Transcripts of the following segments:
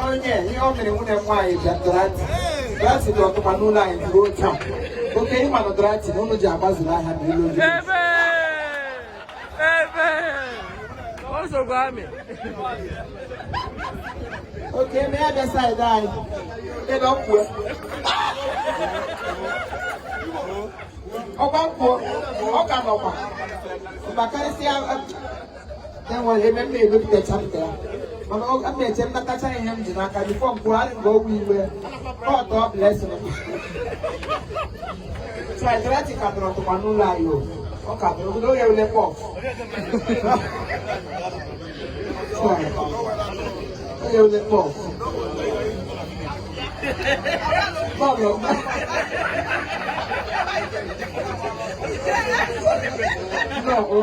onye ihe ọ mere nwunye m nwaanyị bịa dorati dorati dị ọtụkwa n'ụlọ anyị ruo taa okay ị ma na dorati na ụlọ ji agbazuru ahịa na ụlọ oriri okay e mee ya bịa side anyị ebe ọ kwuo ọkwa kwuo ọ ka nọkwa ma karịsịa enwere ebe m na-ebepụta chapter ya mana ọ ga na-eche nnatacha ihe m ji n'aka before m kwuo arị nga ogwu iwe God blessing dorati ka tọrọ tụkwa n'ụlọ anyị o ọ ka tọrọ obodo oge ule pọf oge ule pọf bọọlụ no o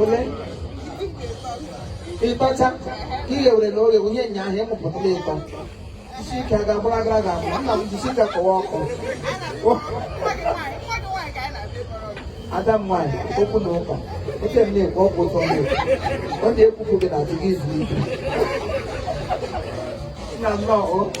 ole ịtọcha ka ị ghewere na oghe wunye nya ahụ ịmụpụtala ịtọ isi ike a ga-agbụrụ agara ga-abụ nna m jisi ike kọwa ọkụ ada m nwaanyị okwu na ụka oche m na-ekwu okwu ụtọ m ọ na-ekwupụ gị na adịghị izu ike nna m nnọọ